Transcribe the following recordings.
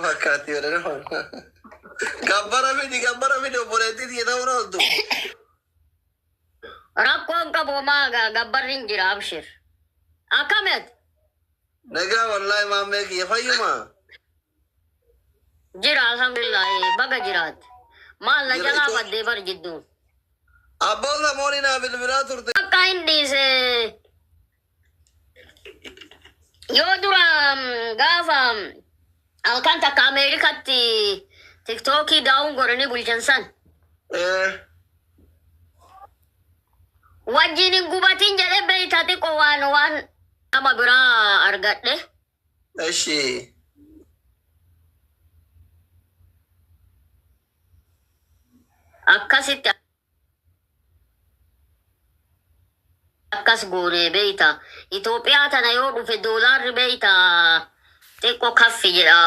Fakkaatti jedhanii hojjetu. Gabbara miti gabbara miti obboleettii siya ta'uu ooltu. Rakkoon qabu homaa ga- gabbarri hin jira abshir. Akkamet Nagaa wallaahi maammee kiyya fayyuma. jira alhamdulillah baga jiraat. Maal na Jira, jalaa itoo- baddee bar jidduu. Abboo samoonii naa bilbilaa turte. Akka hin dhiise Yoo dura mm, gaafa mm, halkan takka Ameerikaatti tiktookii daawun godhanii bulchan san Eh, wajjin hin gubatin jedhe beeyta xiqqoo waan waan nama biraa argadhe. Eshi. Akkasitti akkas goone beeyta Itoophiyaa tana yoo dhufe doolaarri beeyta xiqqo kaffi jedha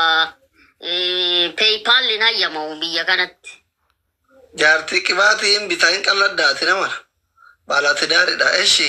paypal hin hayyamamu biyya kanatti. Jaartii qibaatii hin bita hin qalladda ati namara baala tidaaridha eshi.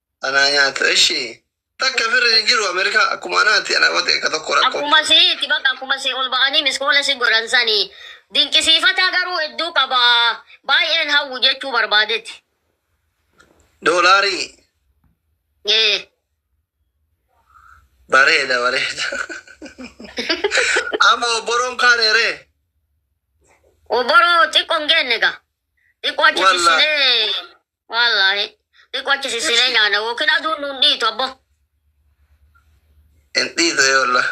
Anaa nyaata eshi. Takka firri hin jiru America akkuma anaati ana wate akka tokko rakko. Akkuma si itti bakka akkuma si ol ba'anii miskoola si godhan sani dinqisiifataa garuu hedduu qaba baay'een hawwu jechuu barbaadeti. Doolaarii Ee. bareeda bareeda. Amma obboroon kaaneeree. Obboroo xiqqoo hin geenne ga. Xiqqoo achi Wallaahi. bissinee Wallaahi. Xiqqoo achi sissinee nyaana yookiin aduun nuun dhiitu abbo. Hin dhiitu ee wallah.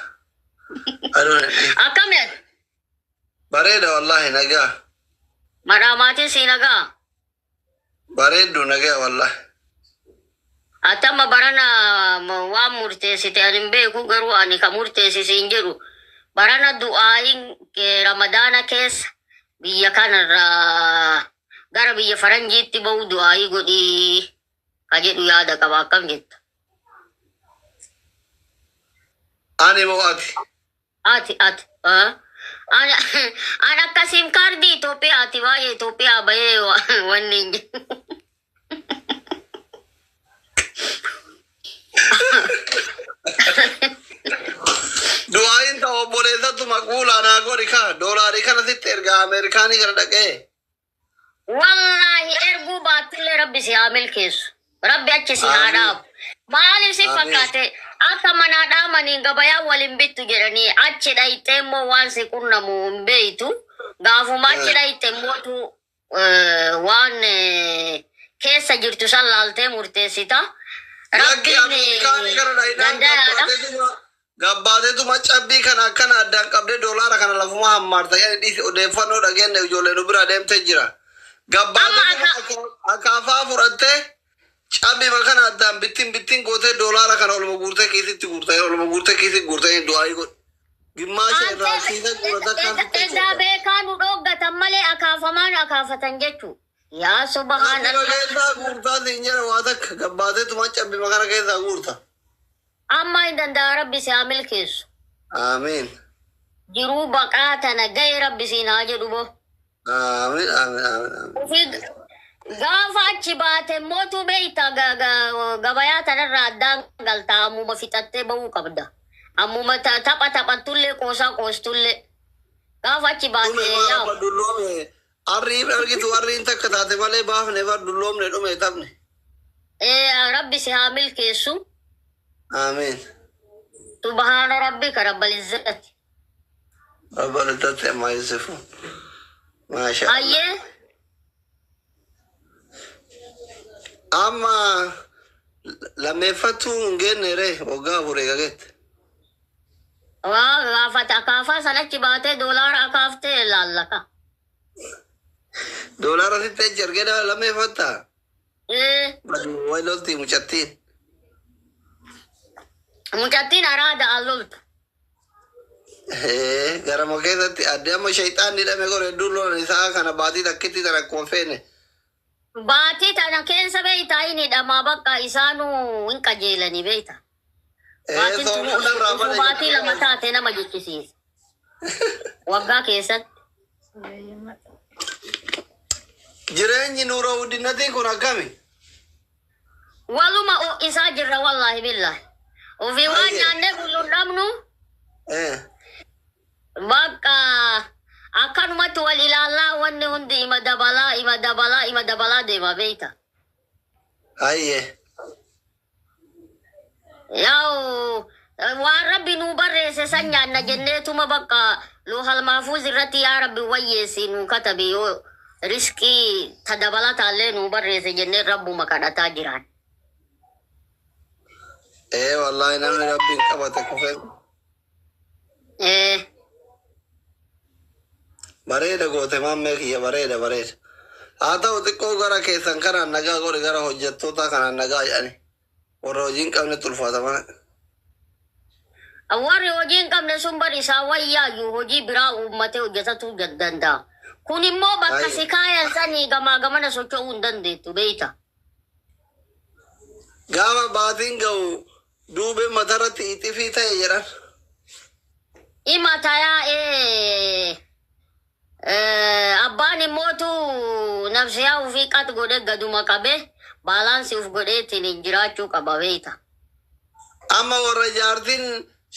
Aduun hin dhiitu. Akkami ati? Bareeda wallahi nagaa. Madhaa maatiin sii nagaa? Bareeddu nagaa wallahi. Ati amma barana m- waan murteessite ani hin beeku garuu ani ka murteessi siin jedhu barana du'aa'iin kee ramadaana keessa biyya kanarraa gara biyya faranjiitti ba'uu du'aayii godhii ka jedhu yaada qaba akkam jetta Ani moo ati? ati ati ah? ani an akka sim kaardii Itoophiyaati baay'ee Itoophiyaa bahee wa- wanni hin jiru. Du'aayin ta'u obboleessattu maquulaa naa godhi kaa doolaarii kana sitti ergaa Ameerikaanii kana dhaqee. Wallaahi erguu baattillee rabbi si haa milkeessu. Rabbi achi si haa Amiin. dhaabu. Maaliif si Amiin. fakkaate akka manaa dhaamaniin gabayaa waliin bittu jedhanii achi dhayxee immoo waan si qunnamu hin beeytu. Gaafuma achi Ee. dhayxe immoo tu eh, waan eh, keessa jirtu san laaltee murteessita. Rabbiin eh, danda'aadha. Gabbaateetuma cabbii kana akkana addaan qabdee doolaara kana lafuma hammaarta dhiisi odeeffannoo dhageenne ijoollee nu bira deemtee jira. Gabbaateetuma Amma akka- akaafaa fudhattee Cabbima kana addaan bittin bittin gootee doolaara kana oluma guurtee kiisitti guurta. Yeroo oluma guurtee kiisitti guurta inni du'aayii godhi. Gimmaasha Maal irraa ta'e kiisa guura takkaan fitta edaa jechuudha. beekaa nu dhooggatan malee akaafamaa nu akaafatan jechuu. Yaa Cabbima subhaanallah. keessaa guurtaa siin jedha waa takka gabbaateetuma cabbima kana keessaa guurta. Ammaa hin danda'a rabbi si haa milkeessu. Aamiin. Jiruu baqaa tana ga'e rabbi siin haa jedhu boo. Amen, amen, amen, amen. Ofii gaafa achi baate mootu beekta ga- ga- gabayaa tanarraa addaan galta ammuma fixattee ba'uu qabda. Ammuma ta- tapha taphattullee qoosaa qoostullee gaafa achi Dhume baate maal yaa abba dulloome. Arrii hin argitu arriin takka taate malee baafne bar dulloomne dhume taphne. ee, rabbi si haa milkeessu Amen. subhaana rabbi ka rabbal izzati. Babalatatti ammaa Yusufu. Maasha Allah. Ayyee Amma lammeeffattuu hin geenne ree waggaa afur eega geette. waa gaafata akaafaa san achi baatee doolaara akaaftee ilaallaka. Doolaara sitti achi argee dha- lammeeffattaa? Baduu way loltii mucattiin. Mucattiin araada al loltu. Ee, Gara moo keessatti addee amma shayxaan ni dhame gore hedduun lolan isaa kana baatii takkitti tan akkuma feene. Baatii tana keessa beektaa inni dhamaa bakka isaanuu hin qajeelanii beektaa. Baatiin Eesoo tuni fuudhan raafan utuu baatii lama eegalee. taate nama jechisiisa. Waggaa keessatti. Jireenyi nuura wuddinatii kun akkami? Waluma o- isaa jirra wallaahi billaahi. Ofii waan Baay'ee. nyaannee bullu hin dhabnu Eh, bakka akkanumatti wal ilaallaa wanni hundi ima dabalaa ima dabalaa ima dabalaa deema beekta. Hayyee. Yaa'u eh, waan rabbi nuu barreesse san nyaanna jenneetuma bakka loohal maafuuz irratti yaa rabbi wayyeessi nuu katabi yoo risqii ta dabalataallee nuu barreesse jennee rabbuma kadhataa jiraan. Ee wallaahi namni rabbiin qabate kufee Mm. Bareeda goote maammee kiyya bareeda bareeda. Haa ta'u xiqqoo gara keessan kanaan nagaa godhi gara hojjettootaa kanaan nagaa jedhani. Warra hojiin qabne tulfaata mana. Warri hojii hin qabne sun bari isaa wayyaayyu hojii biraa uummatee hojjetatu jad- danda'a. Kun immoo bakka Baay'ee. si kaayan sanii gamaa gamana socho'uu hin dandeettu beekta. Gaafa baatiin ga'u Duubeen mataarratti ixifii ta'e jedhan. Ima tayaa'e abbaan immootu nafsiyaa ofii qax godhe gaduma qabe baalaansi uf godheetiin hin jiraachuu qaba beeyta. Amma warra jaartiin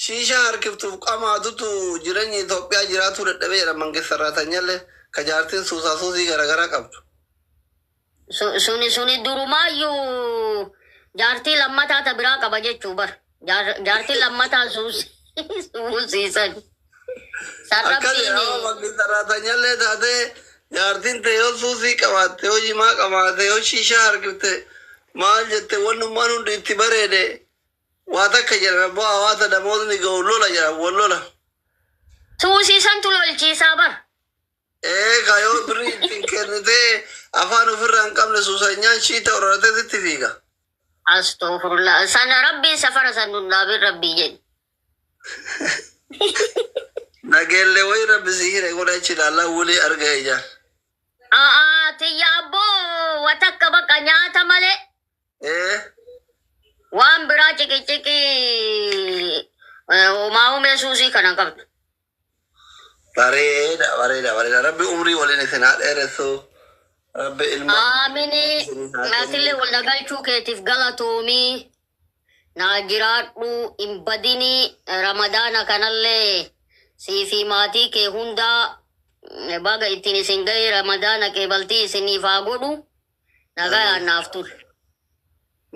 shiishaa harkiftuuf qamaatutu jireenya Itoophiyaa jiraatuu dadhabe jedha Mangist Sarraatanyallee ka jaartiin suusaa suusii garaagaraa qabdu. Su- suni suni durumaayyuu jaartii lammataa ta biraa qaba jechuu bar Jaar- jaartii lammataa suus- suusiisan san Akkasi rabbiin yoo bakki saraatanyalee taatee jaartiin tee yoo suusii qabaatte yoo jimaa qabaatte yoo shiishaa harkifte maal jette wannummaan hundi itti bareede waa takka jedhan abbaa hawaasa damootni ga'u lola jedhan wal lola. suusiisantu lolchiisaa bar Ee ka yoo birrii ittiin kennitee afaan ofirraa hin qabne suusanyaan shiita horatee sitti fiiga. Astoofurullah. Sana rabbiin safara san nun dhaabin rabbii jedhi. Nageellee wayii rabbi si hire godha achi ilaallaa wulii arga ijaan. A'aa tiyya abboo wa takka baqa nyaata malee Ee waan biraa ciqiciqii eh, homaa humee suusii kana qabdu. Bareeda bareeda bareeda rabbi umrii waliin isin haa dheeressu rabbi ilma Aamini isinii haa naatille kennu. wal na galchuu keetiif galatoomii naa jiraadhu hin badini ramadaana kanallee sii fi maatii kee hundaa mm, baga ittiin isin ga'ee ramadaana qeebaltii isiniif haa godhu Nagaa naaf ture.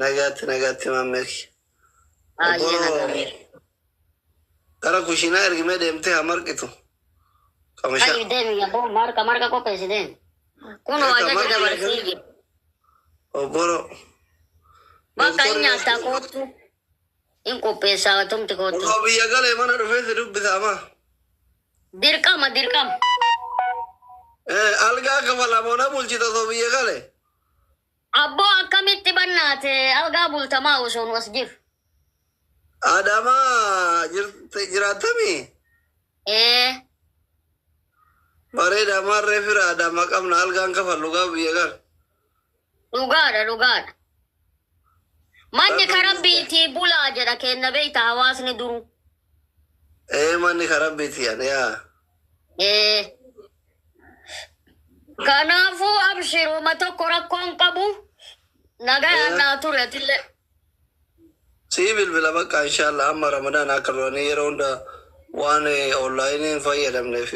Nagaatti nagaatti maammeeki. Baay'ee nagaa. Gara kushiinaa ergimee deemtee haa marqitu. Qamishaa. Ka'i deemi yabboo marqa marqa qopheessi deemi. Kun Egaa ajaja marqi dabarsee eegalee. jira. Obboro. Bakka hin nyaattaa koottu. Hin qopheessaa atumti koottu. Osoo biyya galee mana dhufee si dubbisa amaa. Dirqama dirqama. Eh, Algaa kafala moo na bulchita osoo biyya galee? Abboo akkamitti bannaate algaa bultamaa osoo nu as jiru. Adaamaa jirte- jiraattamii? Ee Bareeda maarree fira adaamaa qabna algaan kafallu gaa biyya gala. Dhugaadha dhugaadha. Manni ka rabbiitii bulaa jedha keenna beeyta hawaasni duruu. Ee manni ka rabbiitii ani yaa. Ee. Kanaafuu abshiruuma tokko rakkoon qabu nagayaan naa turi atillee. Sii bilbila bakka inshaalla amma ramadaan akka duranii yeroo hunda waan onlaayiniin fayyadamneef.